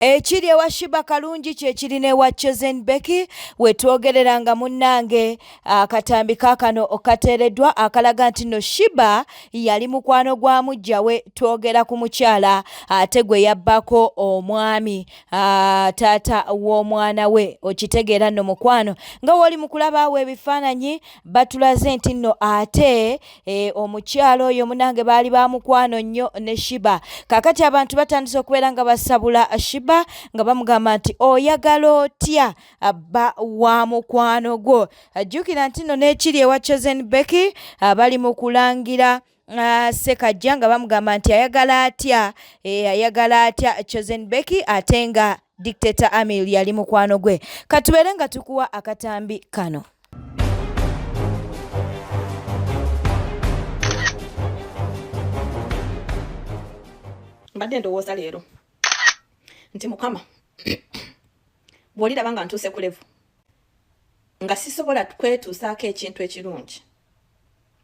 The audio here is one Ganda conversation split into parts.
Ekiri ewa Shiba Kalungi kye kiri n'ewa Chosen Becky we twogerera nga munnange akatambi kaakano okateereddwa akalaga nti no Shiba yali mukwano gwa mujja we twogera ku mukyala ate gwe yabbako omwami taata w'omwana we okitegeera nno mukwano nga woli mu kulaba awo ebifaananyi batulaze nti nno ate Eh, omukyalo oyo munange baali ba mukwano nnyo ne shiba kakati abantu batandise okubeera nga basabula shiba nga bamugamba nti oyagala otya abba wa mukwano gwo ajjukira nti no n'ekiri ewa chosen becky ah, bali mu kulangira ah, sekajja nga bamugamba nti ayagala atya eh, ayagala atya chosen becky ate nga Dictator Amil yali mukwano gwe. Katubeere nga tukuwa akatambi kano. Mbadde ndowooza leero nti mukama bw'oliraba nga ntuuse ku levu nga sisobola kwetuusaako ekintu ekirungi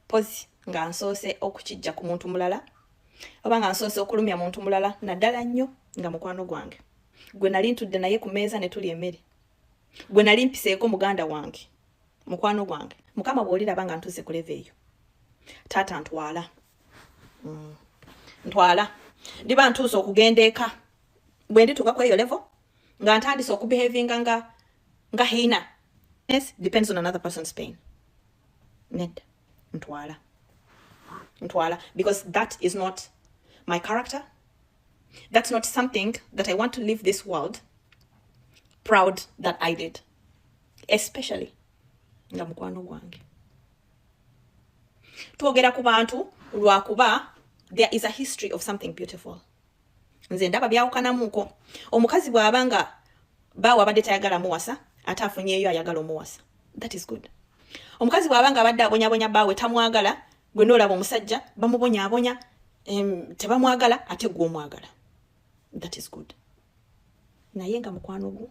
pozi nga nsoose okukijja ku muntu mulala oba nga nsoose okulumya muntu mulala naddala nnyo nga mukwano gwange gwe nali ntudde naye ku meeza ne tuli emmere gwe nali mpiseeko muganda wange mukwano gwange mukama bwoliraba nga ntuuse ku leve eyo taata ntwala mm. ntwala ndiba ntuuse okugenda eka bwe ndituuka ku eyo levo nga ntandise okubehavinga nga nga hiina yes depends on another person's pain nedda ntwala ntwala because that is not my character that's not something that i want to leave this world proud that i did especially nga mukwano gwange twogera ku bantu lwakuba there is a history of something beautiful nze ndaba byawukanamuko omukazi bwaba nga baawe abadde tayagala muwasa ate afunyeeyo ayagala omuwasa that is good omukazi bwaba nga abadde abonyabonya baawe tamwagala gwe noolaba omusajja bamubonyabonya tebamwagala ate gwe omwagala that is good naye nga mukwano gwo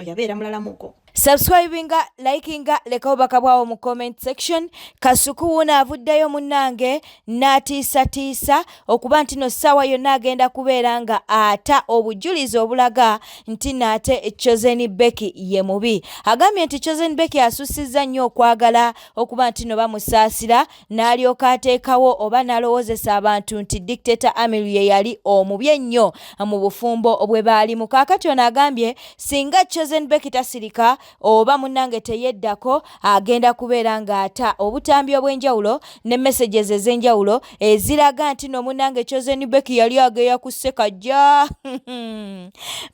oyabeera mulalamuko subscribinga likinga leka obubaka bwawo mu comment section kasuku wuuno avuddeyo munnange n'atiisatiisa okuba nti no ssaawa yonna agenda kubeera nga ata obujulizi obulaga nti naate chosen becky ye mubi agambye nti chosen becky asussizza nnyo okwagala okuba nti no bamusaasira n'alyoka ateekawo oba n'alowozesa abantu nti dictator Amiru ye yali omubi ennyo mu bufumbo bwe baalimu. Kaakati ono agambye singa Chosen Becky tasirika oba munnange teyeddako agenda kubeera ng'ata obutambi obw'enjawulo ne messages ez'enjawulo eziraga nti no munnange Chosen Becky yali ageya ku Ssekajja.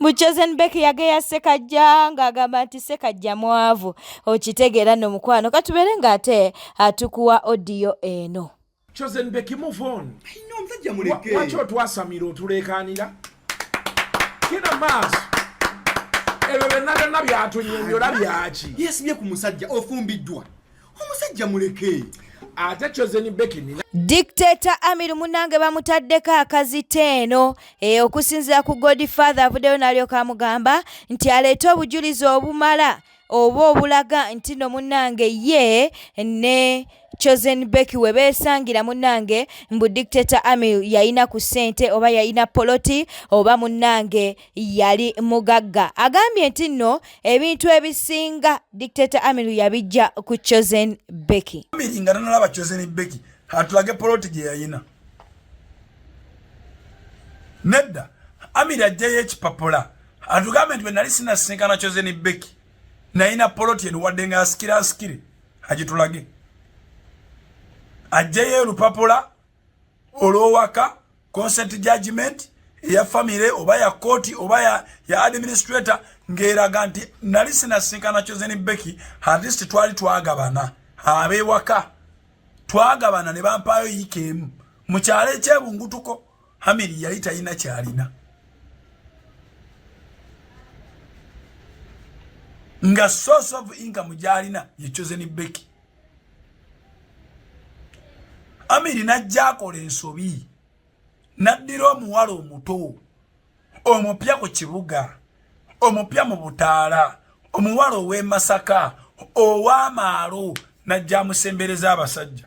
Mu Chosen Becky yageya Ssekajja ng'agamba nti Ssekajja mwavu. Okitegeera no mukwano katubeere ng'ate atukuwa odiyo eno chosen beki move on ayina omusajja muleke waki otwasamira otuleekaanira kina maaso ebyo byonna byonna byatunyonyola byaki yesibye ku musajja ofumbiddwa omusajja muleke ate chosen beki nina dictator amiru munange bamutaddeko akazita eno e, okusinzira ku godfather avuddeyo nalyoka amugamba nti aleete obujulizi obumala oba obulaga nti no munange ye ne chosen becky webesangira munange mbu dictator amil yalina ku sente oba yalina poloti oba munange yali mugagga agambye nti nno ebintu ebisinga dictator amil yabijja ku chosen becky nga tanalaba chosen becky atulage poloti gye yalina nedda amir ajjayo ekipapula atugambe nti benali sinasinkana chozeni beki nayina poloti eno wadde nga asikira asikire agitulage ajjeyo olupapula olwowaka consent judgment eya famire oba ya kooti oba ya, ya administrator ng'eraga nti nali sinasinkana chozeni beki atleast twali twagabana abewaka twagabana ne bampaayo yiika emu mu kyalo ekyebungutuko hamiri yali talina kyalina nga source of income gyalina ye chosen beki amiri najja akola ensobi naddira omuwala omuto omupya ku kibuga omupya mu butaala omuwala ow'emasaka ow'amaalo najja amusembereza abasajja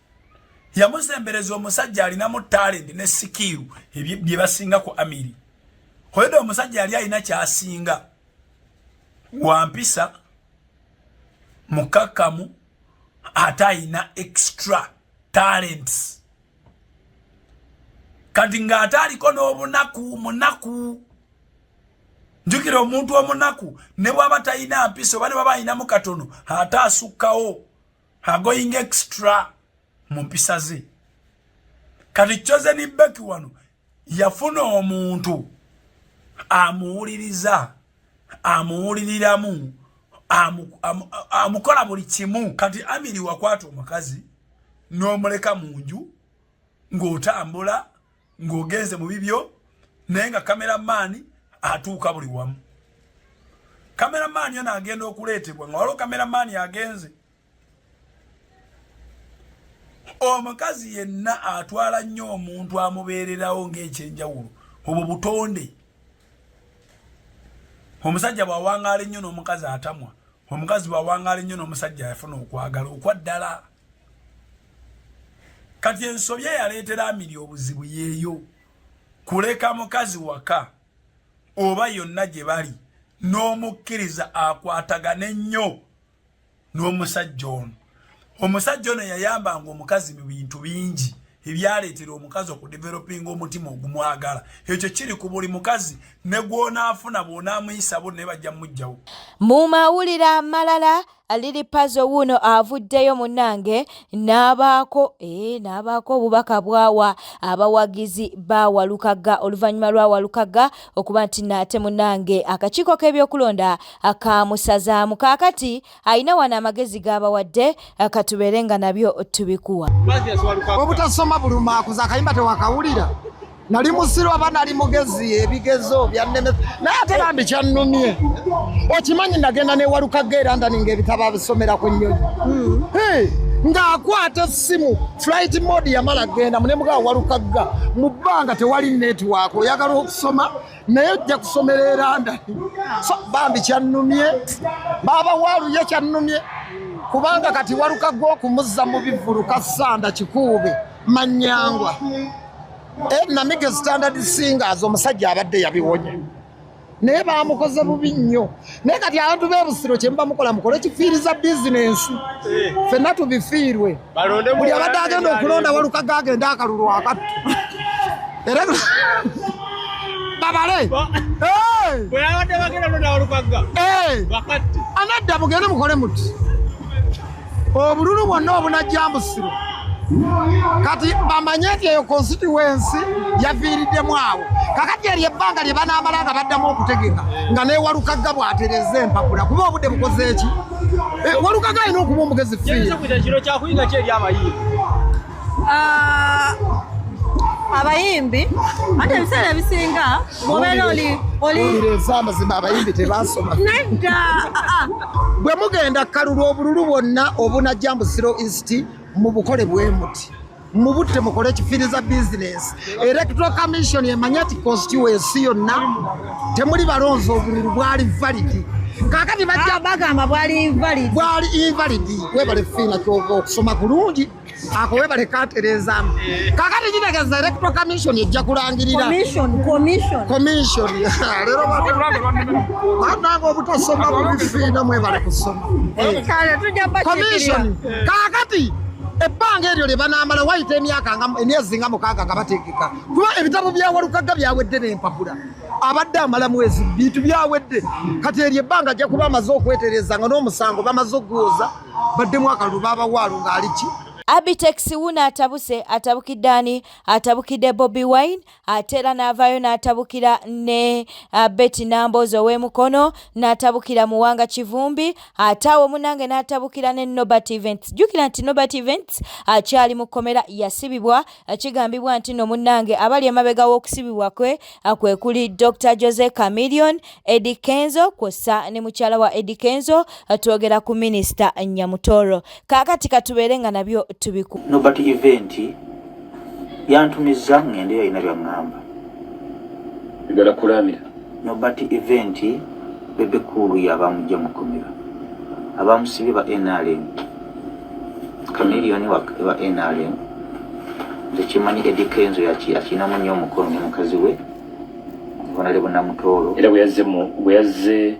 yamusembereza omusajja alinamu talenti ne sikiiru bye basinga ku amiri hoyede omusajja yali alina kyasinga wampisa mukakkamu ate alina extra talents kati ng'ate aliko n'obunaku munaku njukira omuntu omunaku ne bwaba talina mpisa oba ne baba alinamu katono ate asukkawo agoyinga extra mu mpisa ze kati chozeni beki wano yafuna omuntu amuwuliriza amuwuliriramu amukola buli kimu kati amiri wakwata omukazi n'omuleka mu nju ng'otambula ng'ogenze mu bibyo naye nga kameramaani atuuka buli wamu kameramaani yona agenda okuleetebwa nga waliwo kameramaani agenze omukazi yenna atwala nnyo omuntu amubeererawo ng'ekyenjawulo obwo butonde omusajja bw'awangaala ennyo n'omukazi atamwa omukazi bw'awangaala ennyo n'omusajja yafuna okwagala okwaddala kati ensobi eyaleetera amiri obuzibu yeeyo kuleka mukazi waka oba yonna gye bali n'omukkiriza akwatagane nnyo n'omusajja ono omusajja ono yayambanga omukazi mu bintu bingi ebyaleetera omukazi okudevelopinga omutima ogumwagala ekyo kiri ku buli mukazi ne gw'onaafuna bw'onaamuyisabo naye bajja mumujjawo mu mawulire amalala Lili Pazo wuuno avuddeyo munnange n'abaako ee eh, n'abaako obubaka bwawa abawagizi ba Walukagga oluvannyuma lwa Walukagga okuba nti naate munnange akakiiko k'ebyokulonda kaamusazaamu kaakati alina wano amagezi g'abawadde eh, katubeere nga nabyo tubikuwa obutasoma buluma akuza akayimba tewakawulira nali musiru aba nali mugezi ebigezo byanneme naye ate bambi kyannumye okimanyi nagenda newalukaga era ndaninga ebitabo abisomera ku nnyonyi hmm. ng'akwata essimu flight mode yamala genda munemuga walukagga mu bbanga tewali network oyagala okusoma naye ojja kusomera eranda so bambi kyannumye baaba waaluye kyannumye kubanga kati walukagga okumuzza mu bivulu kasanda kikuube manyangwa eh, namige standard singers omusajja abadde yabiwonye naye bamukoze bubi nnyo naye kati abantu bebusiro kyemuba mukola mukole kifiiriza bizinensi eh. fenna tubifiirwe buli abadde agenda okulonda walukaga agenda akalulu akattu era babale anadda mugende mukole muti obululu bwonna obunajja musiro kati bamanye nti eyo konsituwensi yaviiriddemu awo kakati eryo ebbanga lye banaamala nga baddamu okutegeka nga newalukagga bwatereza empapula kuba obudde bukozeeki eh, walukagga alina okuba omugezi fiiri Ah, abayimbi ate ebiseera ebisinga mubeera oli oli owulireza amazima abayimbi tebasoma nedda ah, ah. bwe mugenda kalulu obululu bwonna obunajja mbu zero east mubukole bwemuti mubutte mukole ekifiriza bizinesi electoral commission emanyi ati constituency yonna temuli balonzi obululu bwali validi kakati bajja Ah, bagamba bwali invalid bwali invalidi webale fiina kyova okusoma kulungi ako webale katereezamu kakati kitegeza electoral commission ejja kulangirira leero banange obutasoma bubifiina mwebale kusoma commission kakati ebbanga eryo lye banaamala wayita emyaka emyezi nga mukaaga nga bategeka kuba ebitabo byawalukagga byawedde n'empapula abadde amala mwezi bintu byawedde kati eryo ebbanga ajja kuba amaze okwetereza nga n'omusango bamaze okuguwoza baddemu akalulu babawaalo ng'aliki Abitex wuno atabuse atabukidde ani atabukidde Bobi Wine ate era n'avaayo n'atabukira ne uh, Betty Namboozi ow'e Mukono n'atabukira Muwanga Kivumbi ate awo munange n'atabukira ne Nobert Events jjukira nti Nobert Events akyali mu kkomera yasibibwa Kigambibwa nti no munnange abali emabega w'okusibibwa kwe kwe kuli Dr Jose Chameleon, Eddie Kenzo kwossa ne mukyala wa Eddie Kenzo twogera ku minisita Nyamutoro. Kaakati katubeere nga nabyo tubiku. Nobert Event yantumizza ng'ende yalina byang'amba. Njagala kulaamira. Nobert Event Bebe Cool y'abaamujja mu kkomera. Abaamusibye ba NRM. Chameleone wa, wa NRM nze kimanyi Eddy Kenzo yakirinamu nnyo omukono ne mukazi we Honore Bunamutooro era bwe yazze mu bwe yazze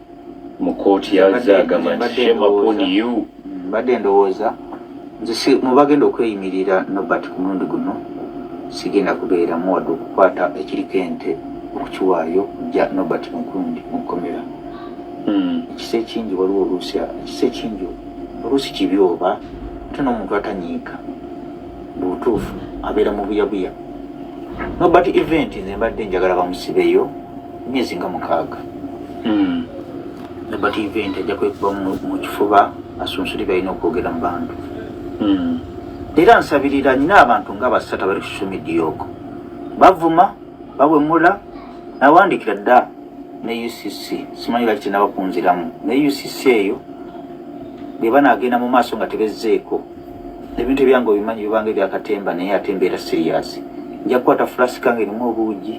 mu kkooti yazze agamba nti shame upon you mm, mbadde ndowooza nze si mu bagenda okweyimirira Nobert ku mulundi guno sigenda kubeeramu wadde okukwata ekiriko ente okukiwaayo ja Nobert Nkundi mu kkomera hmm. ekisa ekingi waliwo oluusi ekisa ekingi oluusi kibi oba ate n'omuntu atanyiika mu butuufu abeera mu buyabuya nobert event nze mbadde njagala bamusibeyo myezi nga mukaaga hmm. nobert event ajja kwekuba mu kifuba asunsuli balina okwogera mu bantu hmm. era nsabirira nyina abantu nga basatu abali ku social media oko bavuma bawemula nawandikira dda ne UCC simanyi lwaki tenaba kunziramu ne UCC eyo bweba nagenda mu maaso nga tebezzeeko ebintu ebyange obimanyi bibanga ebyakatemba naye ate mbeera siriyasi nja kukwata fulasika nga erimu obuugi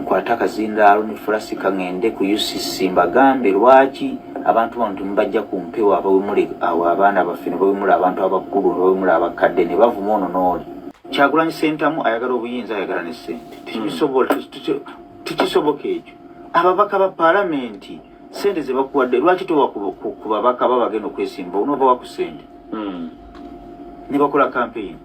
nkwate akazindaalo ne fulasika ngende ku UCC mbagambe lwaki abantu bano temubajja ku mpewo abawemule awo abaana baffe ne bawemula abantu abakulu ne bawemula abakadde ne bavuma ono n'oli kyagulanyi sentamu ayagala obuyinza ayagala ne ssente tekisobola Tikisoboka ekyo. Ababaka ba palamenti sente ze bakuwadde lwaki towa ku babaka baba bagenda okwesimba onoova wa ku sente hmm. ne bakola kampeyini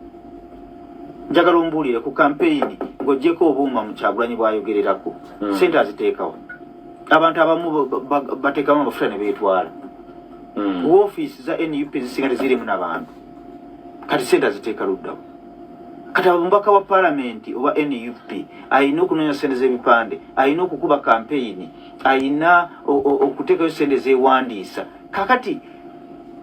njagala ombuulire ku kampeyini ng'ogyeko obuuma mu kyagulanyi bwayogererako hmm. sente aziteekawo abantu abamu bateekamu amafuta ne beetwala hmm. wofiisi za nup zisinga tezirimu nabantu kati sente aziteeka luddamu kati omubaka wa palamenti oba nup alina okunoonya sente z'ebipande alina okukuba kampeyini alina okuteekayo sente zewandiisa kakati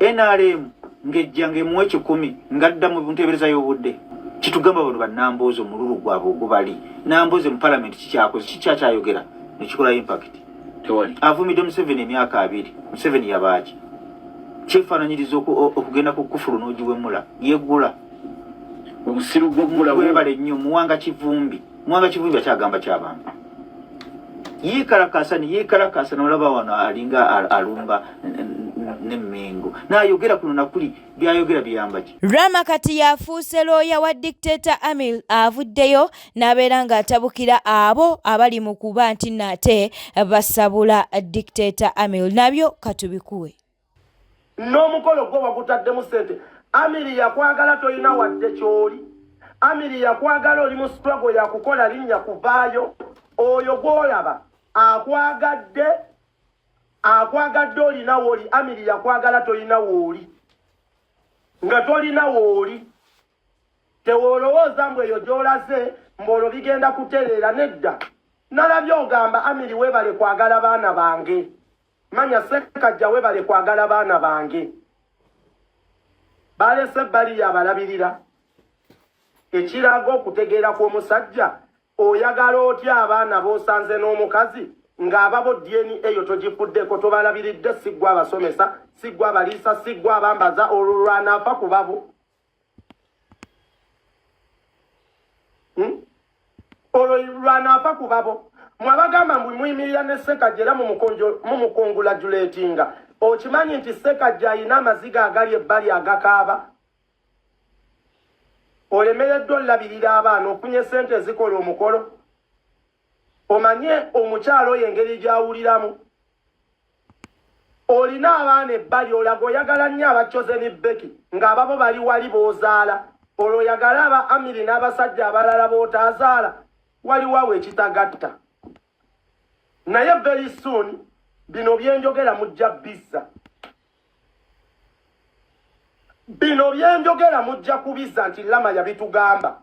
nrm ngejja ngaemuwa ekikumi ngadda mu nteebereza y'obudde kitugamba bano banamboozi omululu gwabwe ogubali namboozi mu palamenti kikyakoze kikyakyayogera nekikola impakiti tewali avumidde museveni emyaka abiri museveni yabaaki kyefananyiriza okugenda ku kufulu nogiwemula yegula obusiru gwegulawebale nnyo muwanga kivumbi muwanga kivumbi akyagamba kyabantu yikalakasa neyikalakasa nolaba wano alinga alumba nemengo nayogera kuno nakuli byayogera biyambaki rama kati yafuuse looya wa dictator amil avuddeyo n'abeera ng'atabukira abo abali mu kuba nti naate basabula dictator amil nabyo katubikuwe n'omukolo gwo bagutaddemu sente amiri yakwagala tolina wadde kyoli amiri yakwagala oli mu struggle yakukola linnya kuvaayo oyo gwolaba akwagadde akwagadde olina wooli amiri yakwagala tolina wooli nga tolina wooli Tewolowooza mbu eyo gy'olaze mbu olwo bigenda kutereera, nedda. Nalabye ogamba Amiri weebale kwagala baana bange. Manya Ssekajja weebale kwagala baana bange. Baalese ebbali y'abalabirira. Ekiraga okutegeera kw'omusajja, oyagala otya abaana b'osanze n'omukazi ng'ababo DNA eyo togifuddeko tobalabiridde siggwa abasomesa, siggwa abaliisa, siggwa abambaza olwo lwanaafa ku babo. hmm? olwo lwanaafa ku babo mwabagamba mbu muyimirira ne sekajja era mumukongulajulatinga okimanyi nti sekajja alina amaziga agali ebbali agakaaba olemereddwa olulabirira abaana ofunye sente ezikola omukolo omanye omukyalo oyo engeri gyawuliramu olina abaana ebbali olaga oyagala nnyo abakyozeni beki ng'ababo bali wali b'ozaala olwo oyagala aba amiri n'abasajja abalala b'otaazaala waliwawo ekitagatta naye very soon bino byenjogera mujja bizza bino byenjogera mujja kubizza nti lama yabitugamba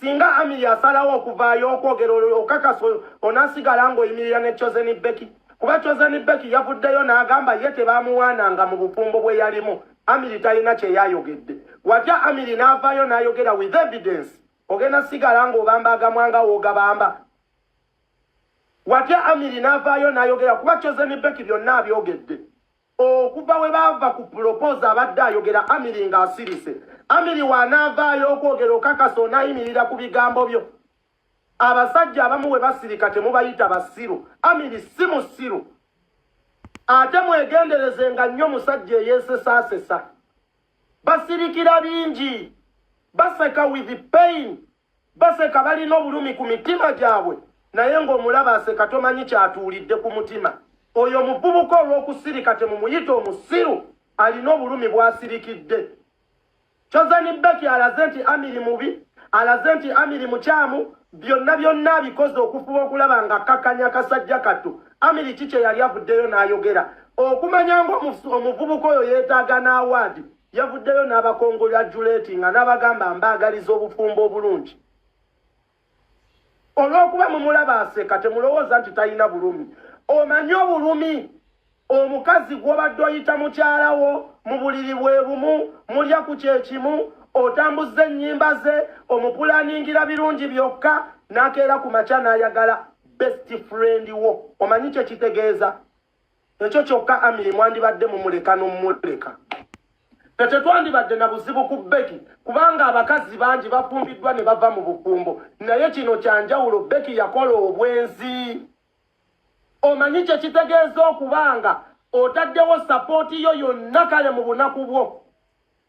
Singa Amiri asalawo okuvaayo okwogera olwo okakasa onasigala ng'oyimirira ne Chozeni Beki kuba Chozeni Beki yavuddeyo n'agamba ye tebaamuwaananga mu bufumbo bwe yalimu Amiri talina kye yayogedde watya Amiri n'avaayo n'ayogera with evidence ogenda sigala ng'obamba agamwa nga woogabamba watya Amiri n'avaayo n'ayogera kuba Chozeni Beki byonna abyogedde Okuva we baava ku pulopoza abadde ayogera Amiri ng'asirise. Amiri w'anaavaayo okwogera okakasa onaayimirira ku bigambo byo. Abasajja abamu we basirika temubayita basiru. Amiri si musiru. Ate mwegendereze nga nnyo musajja eyeesesaasesa. Basirikira bingi. Baseka with pain. Baseka balina obulumi ku mitima gyabwe naye ng'omulaba aseka tomanyi kyatuulidde ku mutima. Oyo omuvubuka olw'okusirika temumuyita omusiru alina obulumi bw'asirikidde. Chozani Beki alaze nti Amiri mubi, alaze nti Amiri mukyamu, byonna byonna abikoze okufuba okulaba nga kakkanya kasajja kattu. Amiri ki kye yali avuddeyo n'ayogera? Okumanya ng'omuvubuka oyo yeetaaga n'awaadi Yavuddeyo n'abakongolyajuleetinga n'abagamba mbaagaliza obufumbo obulungi. Olw'okuba mumulaba aseka temulowooza nti talina bulumi. Omanyi obulumi omukazi gw'obadde oyita mukyala wo mu buliri bwe bumu mulya ku kye kimu otambuzza ennyimba ze omupulaningira birungi byokka n'akeera ku makya n'ayagala best friend wo omanyi kye kitegeeza ekyo kyokka amiri mwandibadde mumuleka nomumuleka tetetwandibadde na buzibu ku beki kubanga abakazi bangi bafumbiddwa ne bava mu bufumbo naye kino kyanjawulo beki yakola obwenzi omanyi kye kitegeeza okubanga otaddewo sapooti yo yonna kale mu bunaku bwo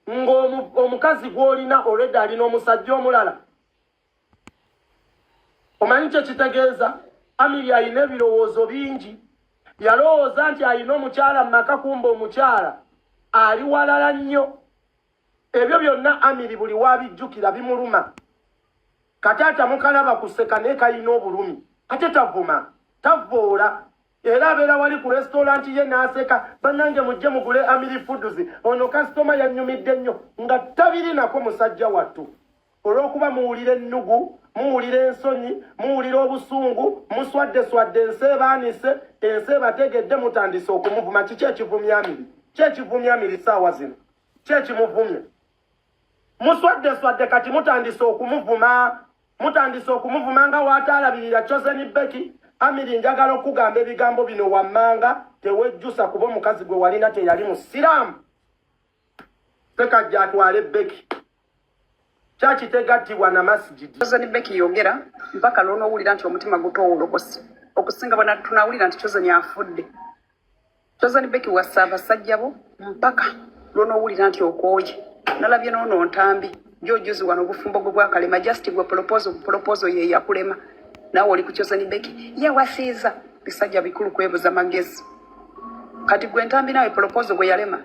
ng'omukazi gw'olina olwedde alina omusajja omulala omanyi kye kitegeeza amiri alina ebirowoozo bingi yalowooza nti alina omukyala mu maka kumba omukyala ali walala nnyo ebyo byonna amiri buli waabijjukira bimuluma kataata mukalaba kuseka naye kalina obulumi ate tavuma tavvoola era abeera wali ku resitoolanti ye n'aseka bannange mujje mugule amiri foods ono kasitoma yannyumidde nnyo nga tabirinako musajja wattu olw'okuba muwulira ennugu muwulira ensonyi muwulira obusungu muswadde swadde ensi ebaanise ensi ebategedde mutandise okumuvuma kiki ekivumya amiri ki ekivumya amiri saawa zino ki ekimuvumya muswadde swadde kati mutandise okumuvuma mutandise okumuvuma nga waataalabirira choseni beki amiri njagala okukugamba ebigambo bino wammanga tewejjusa kuba omukazi gwe walina teyali musiraamu sekajja atwale beki kyaki tegattibwa na masigidi choseni beki yogera mpaka lwonoowulira nti omutima gutowolokosi okusinga bwena tunawulira nti choseni afudde Chosen Becky wasa abasajja bo mpaka lw'onoowulira nti okooye nalabye n'ono ntambi gyojuzi wano obufumbo gwe bwakalema just gwe polopozo polopozo ye yakulema naawe oli ku Chosen Becky yewasiiza bisajja bikulu kwebuza magezi kati gwe ntambi naawe polopozo gwe yalema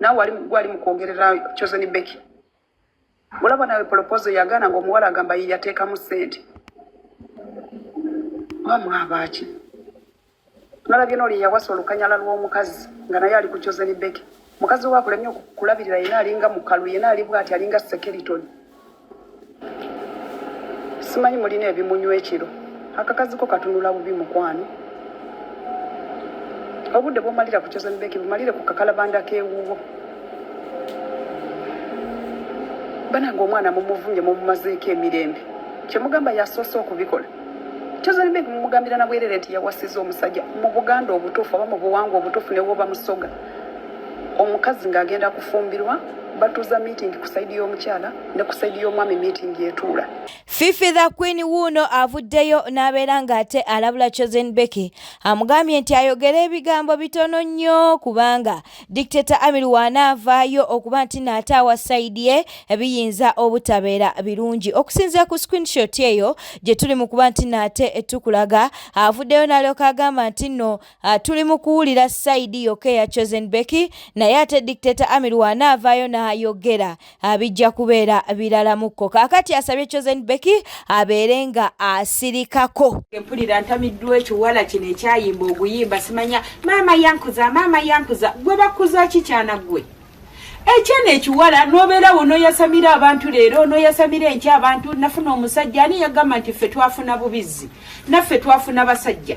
naawe gwali mu kwogerera Chosen Becky olaba nawe polopozo yagaana nga omuwala agamba ye yateekamu ssente oba mwabaaki nalabye nooli yawasa olukanyala lw'omukazi nga naye ali ku choseni beke mukazi we akulemye okulabirira yena alinga mukalu yena ali bwati alinga sekeritoni simanyi mulina ebimunywa ekiro akakaziko katunula bubi mukwano obudde bwomalira ku choseni beke bumalire ku kakalabanda k'ewuwo banange omwana mumuvumye mumumazeeko emirembe kyemugamba yasoose okubikola kyozalibe mumugambira nabwerere nti yawasiza omusajja mu buganda obutuufu oba mu buwangwa obutuufu newoba musoga omukazi ng'agenda kufumbirwa batuuza miitingi ku sayidi y'omukyala ne ku sayidi y'omwami miitingi etuula fifi the queen wuuno avuddeyo n'abeera ng'ate alabula chosen becky amugambye nti ayogera ebigambo bitono nnyo kubanga Dictator Amir w'anaavaayo okuba nti naataawa sayidi ye biyinza obutabeera birungi okusinzira ku screenshot eyo gye tuli mu kuba nti naate tukulaga avuddeyo n'alyoka agamba nti nno ah, tuli mu kuwulira sayidi yokka eya Chosen Becky naye ate Dictator Amir w'anaavaayo n'ayogera Ah, bijja kubeera biralamukko kakati asabye chosen becky abeere nga asirikako empulira ntamiddwa ekiwala kino ekyayimba oguyimba simanya maama yankuza maama yankuza gwe bakuza kikyana gwe ekyana ekiwala nobeerawo noyasamira abantu leero noyasamira enky abantu nafuna omusajja ani yagamba nti ffe twafuna bubizzi naffe twafuna basajja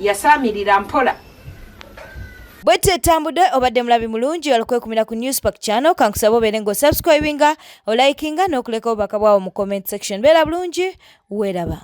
yasaamirira mpola bwetyo etambudde obadde mulabi mulungi olukwekumira ku newspark channel kankusaba obeere nga osubscribinga olikinga n'okuleka obubaka bwawo mu comment section beera bulungi weeraba